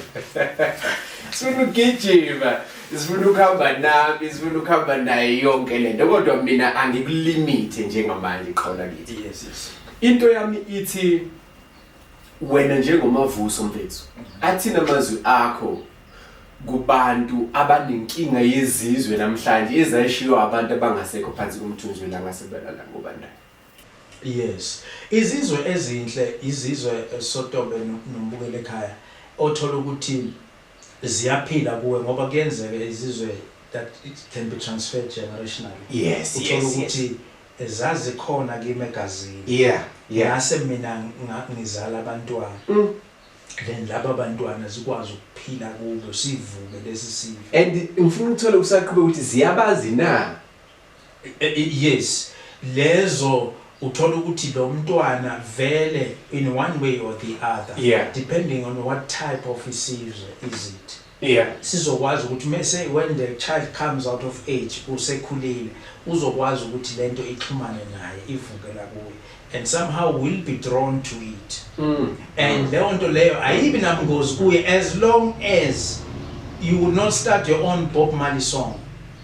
Sifuna ukugijima, sifuna ukuhamba nami, sifuna ukuhamba naye yonke lento kodwa mina angikulimite njengamanje qhawe lakithi. Yes yes. Into yami ithi wena njengomavuso mfethu athina amazwi akho kubantu abanenkinga yezizwe namhlanje ezayishiwo abantu abangasekho phansi komthunzi welanga sebelala ngobandayo yes izizwe ezinhle izizwe sotobe nombukele ekhaya othola ukuthi ziyaphila kuwe ngoba kuyenzeka izizwe that it can be transferred generationally yes uthola ukuthi yes, yes. Zazikhona kimi egazini. Yeah yeah. Ngase mina ngizala abantwana. Then laba bantwana zikwazi ukuphila kubo sivuke lesi sifo. And ngifuna ukuthola usaqhubeka ukuthi ziyabazi na? Yes. Lezo uthola ukuthi lo mntwana vele in one way or the other yeah. depending on what type of isizwe is it Yeah. Sizokwazi ukuthi mese when the child comes out of age usekhulile uzokwazi ukuthi lento ixhumane naye ivuke la kuye and somehow will be drawn to it mm. and leyo nto leyo ayibi nabungozi kuye as long as you will not start your own Bob Marley song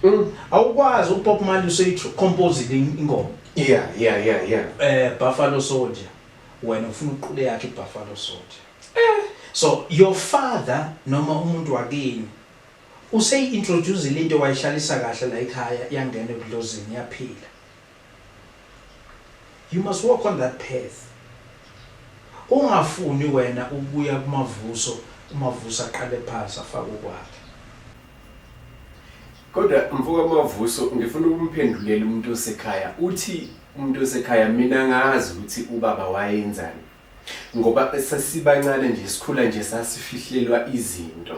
mm. awukwazi uBob Marley useyicompose ingoma yeah yeah yeah yeah eh Buffalo Soldier wena ufuna uqule yakhe iBuffalo Soldier So your father noma umuntu wakini useyi introduce into wayihlalisa kahle la ekhaya yangena ebudlozini yaphila. You must walk on that path. Ungafuni wena ukubuya kumavuso umavuso aqale phansi afake ukwakhe. Kodwa mfoka mavuso ngifuna ukumphendulela umuntu osekhaya uthi umuntu osekhaya mina ngazi ukuthi ubaba wayenzani ngoba sasibancane nje sikhula nje sasifihlelwa izinto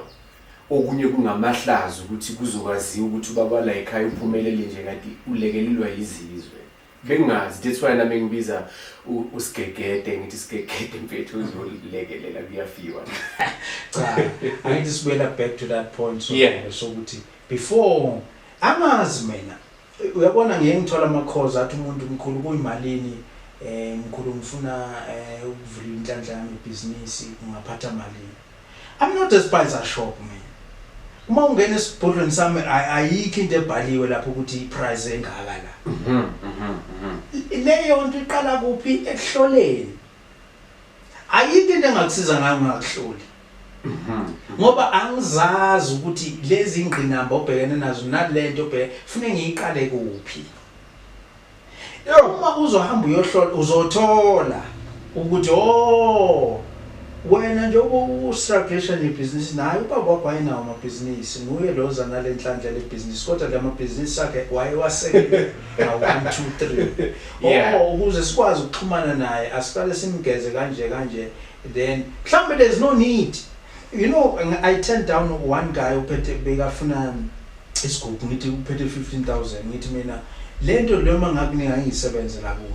okunye kungamahlazo ukuthi kuzokwaziwa ukuthi ubaba la ekhaya uphumelele nje kanti ulekelelwa yizizwe bengazi that's why nami ngibiza usigegede ngithi sigegede mfethu uzolekelela kuyafiwa cha angithi sibuyela back to that point so yeah. sokuthi before amazi mina Uyabona ngiye ngithola amakhozi athi umuntu mkhulu kuyimalini eh mkhulu ngifuna eh ukuvula inhlanhla yami ibhizinisi ungaphatha malini I'm not a spicer shop mina uma ungena esibhodlweni sami ayikho into ebhaliwe lapho ukuthi iprice engaka la mhm, mhm, mhm. leyo nto iqala kuphi ekuhloleni ayikho into engakusiza ngayo ngakuhloli mhm. ngoba angizazi ukuthi lezi ngqinamba obhekene nazo nalento obheke fune ngiyiqale kuphi uma uzohamba uyohlola uzothola ukuthi oh wena nje ustrugglation yebhizinisi naye ubaba wakho wayinawo amabhizinisi nguye lo oza nale nhlanhla lebhizinisi kodwa la mabhizinisi akhe wayewasekele awu 1 2 3 Yeah. oh ukuze sikwazi ukuxhumana naye asiqale simgeze kanje kanje then mhlawumbe there's no need you know ng- i turned down one guy uphethe bekafuna isigubhu ngithi uphethe 15000 ngithi mina lento leyo uma ngakunika ngiyisebenze la kuwe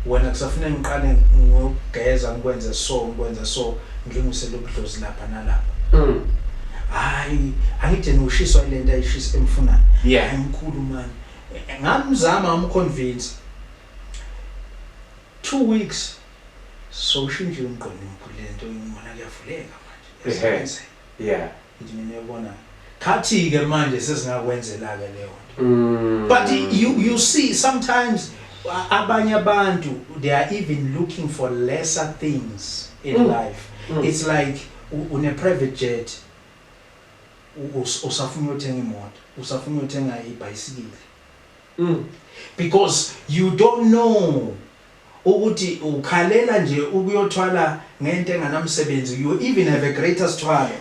wena kusafuna ngiqale ngokugeza ngikwenze so ngikwenze so ngilungisele ubudlozi lapha nalapha Mm. hayi angideni ushiswa ile nto ayishisa emfunayo Yeah. Hayi, mkhulu mani Ngamzama ngamu convince two weeks sowushintshile umgqondo omkhulu lento ngibona kuyavuleka manje yasebenzela yeah ngithi mina uyabona khathi ke manje sesingakwenzela ke leyo nto mm. but you you see sometimes abanye abantu they are even looking for lesser things in mm. life mm. it's like une private jet Usafuna uyothenga imoto, usafuna uyothenga ibhayisikili. Mm. Because you don't know ukuthi ukhalela nje ukuyothwala ngento enganamsebenzi. You even have a greater struggle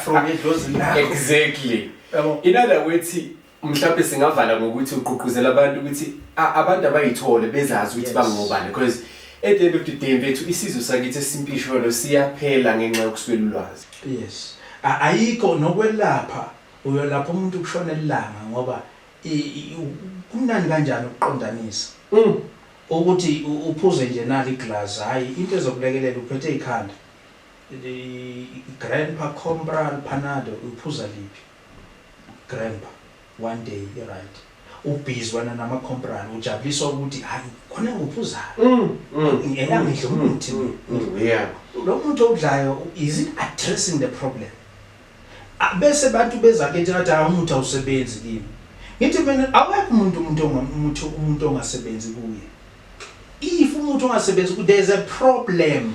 from edlozini lakho. Exactly. Yabo. In other words, mhlawumbe singavala ngokuthi ugqugquzela abantu ukuthi abantu abayithole bezazi ukuthi bangobani because at the end of the day mfethu isizwe sakithi esimpisholo siyaphela ngenxa yokuswela ulwazi yes ayikho nokwelapha uyolapha umuntu kushona elanga ngoba kumnani kanjani ukuqondanisa mm. ukuthi uphuze nje nali iglass hayi into ezokulekelela uphethe ikhanda grandpa compra panado uphuza liphi Grandpa one day i right u busy wena nama compral ujabuliswa ukuthi hayi khona ngophuzayo ngeke ngidle umuthi lo muthi owudlayo is it addressing the problem bese abantu beza kithi ngathi hayi umuthi awusebenzi kimi ngithi mina awekho umuntu umuntu ongamuthi umuntu ongasebenzi kuye if umuthi ongasebenzi ku there's a problem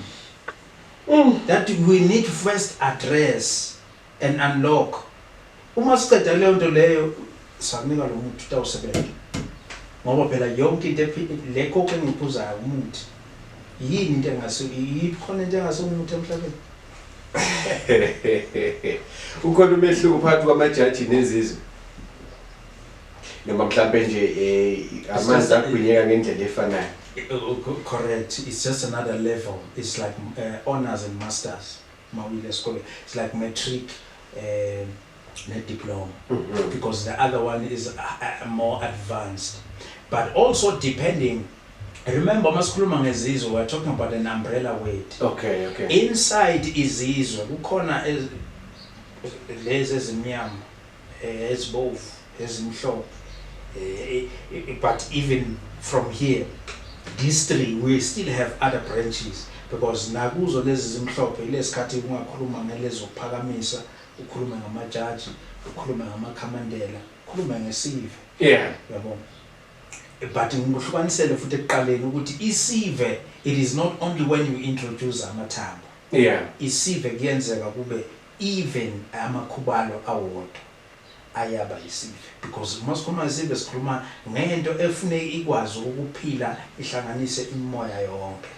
mm. that we need first address and unlock uma siqeda leyo nto leyo sakunika lo muthi utawusebenza ngoba phela yonke into le coke engiyiphuzayo umuthi yini into engase iyiphi khona into engase umuthi emhlabeni ukhona umehluko phakathi kwamajaji nezizwe noma mhlampe nje um amanzi agwinyeka ngendlela efanayo eh, oh, oh, correct it's just another level it's like uh, honors and masters Mawuyile esikole it's like matric um ne diploma mm -hmm. because the other one is uh, more advanced but also depending remember uma sikhuluma ngezizwe we're talking about an umbrella word okay okay inside izizwe kukhona lezi ezimnyama ezibovu ezimhlophe but even from here these three we still have other branches because nakuzo lezi zimhlophe ilesikhathi ungakhuluma ngelezokuphakamisa ukhulume ngamajaji ukhulume ngamakhamandela ukhulume ngesive yeah yabo but ngikuhlukanisele futhi ekuqaleni ukuthi isive it is not only when you introduce amathambo yeah isive kuyenzeka kube Even amakhubalo awodwa ayaba yisive because uma sikhuluma ngesive sikhuluma ngento efuneka ikwazi ukuphila ihlanganise imimoya yonke.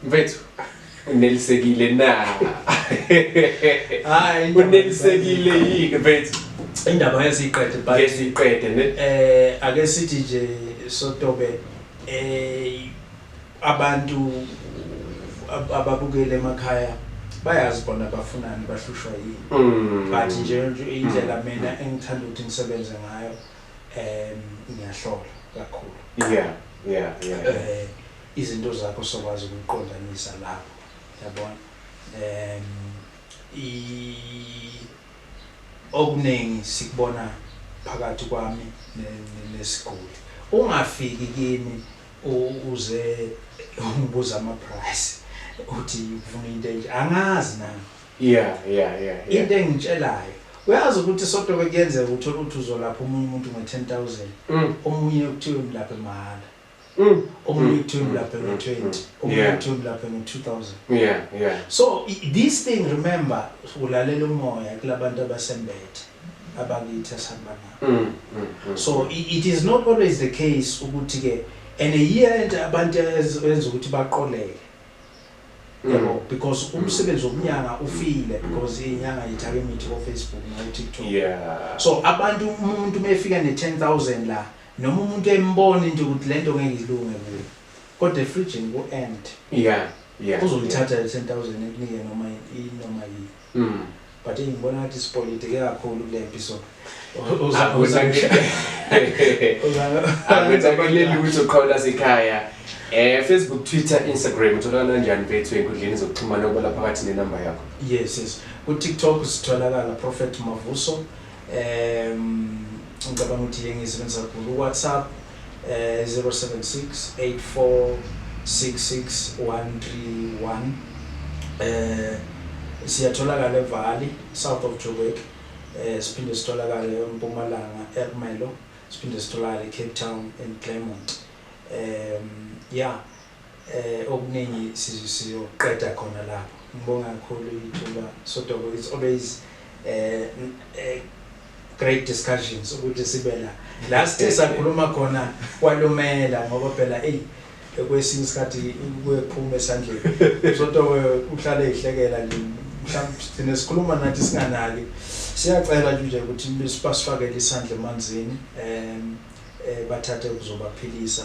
Mfethu unelisekile na? Hayi unelisekile yini mfethu? Indaba yesiqede but yesiqede ne eh ake sithi nje sotobe eh Abantu ababukeli emakhaya bayazi bona bafunani bahlushwa yini mm. but nje indlela mm. mina engithanda ukuthi ngisebenze ngayo um ngiyahlola kakhulu yeah yeah yeah eh izinto zakho sokwazi ukuqondanisa lapho yabona um i okuningi sikubona phakathi kwami nesiguli ungafiki kimi Uze ungibuza ama price uthi ufuna into enje angazi nami. Yeah yeah yeah. yeah. Into engitshelayo uyazi ukuthi sodwa bekuyenzeka uthola ukuthi uzolapha omunye umuntu nge 10000 mm. omunye ukuthiwa umlaphe mahhala. Mm. omunye mm. kuthiwa umlaphe nge 20 mm. omunye kuthiwa umlaphe nge 2000. Yeah yeah. So this thing remember ulalela umoya kulabantu abasembethe. abakithi asanibanayo mm, mm, mm. so it is not always the case ukuthi ke and a year and abantu enza ukuthi baqoleke yebo mm. because mm. umsebenzi wokunyanga ufile mm. because inyanga yithake imithi ko Facebook no TikTok yeah so abantu umuntu mefika ne 10000 la noma umuntu embona into ukuthi lento ngeke ilunge kuye kodwa efridge ku end yeah yeah uzolithatha le 10000 ekunike noma inoma yini But eyi ngibona ngathi sipolitike kakhulu kulempi so. Akwenzakaleli ukuthi uqhawula sekhaya. Eh Facebook, Twitter, Instagram utholakala kanjani mfethu enkundleni zokuxhumana okwala phakathi nenamba yakho? Yes yes. Ku TikTok sitholakala Prophet Mavuso. Um ngicabanga ukuthi le ngiyisebenzisa kakhulu uWhatsApp eh 0768466131 eh siyatholakala eValley south of Joburg eh siphinde sitholakale eMpumalanga eRmelo siphinde sitholakale eCape Town and Claremont um yeah Okuningi siyokuqeda khona lapho. Ngibonga kakhulu ithuba Sotobe it's always a great discussions ukuthi sibe la. La sithe sakhuluma khona kwalumela ngoba phela eyi kwesinye isikhathi kuye kuphume esandleni. Sotobe uhlale eyihlekela nje mhlawumbe sigcine sikhuluma nathi singanaki. Siyacela nje ukuthi basifakele isandla emanzini bathathe okuzobaphilisa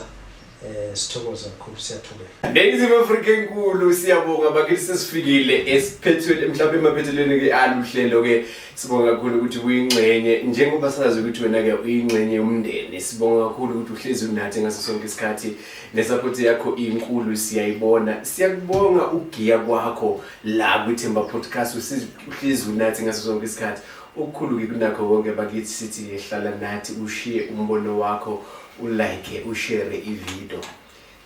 Eh sithokoza kakhulu siyathobeka. Ladies of Africa enkulu siyabonga bakithi sesifikile esiphethweni mhlawumbe emaphethelweni ke aluhlelo ke sibonga kakhulu ukuthi uyingxenye njengoba sazi ukuthi wena ke uyingxenye yomndeni sibonga kakhulu ukuthi uhlezi unathi ngaso sonke isikhathi nesupport yakho inkulu siyayibona siyakubonga ugiya kwakho la kwithemba podcast uhlezi unathi ngaso sonke isikhathi okukhulu ke kunakho konke bakithi sithi hlala nathi ushiye umbono wakho ulike ushare ivideo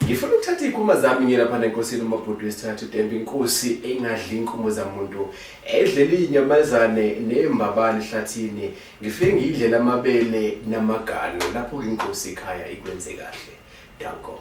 ngifuna ukuthatha iy'khuma zami ngiye laphana enkosini umabhuti wesithathu dembe inkosi engadli inkumo zamuntu edlela iy'nyamazane ney'mbabane ehlathini ngifike ngiyidlela amabele namagalo lapho-ke inkosi ikhaya ikwenze kahle danko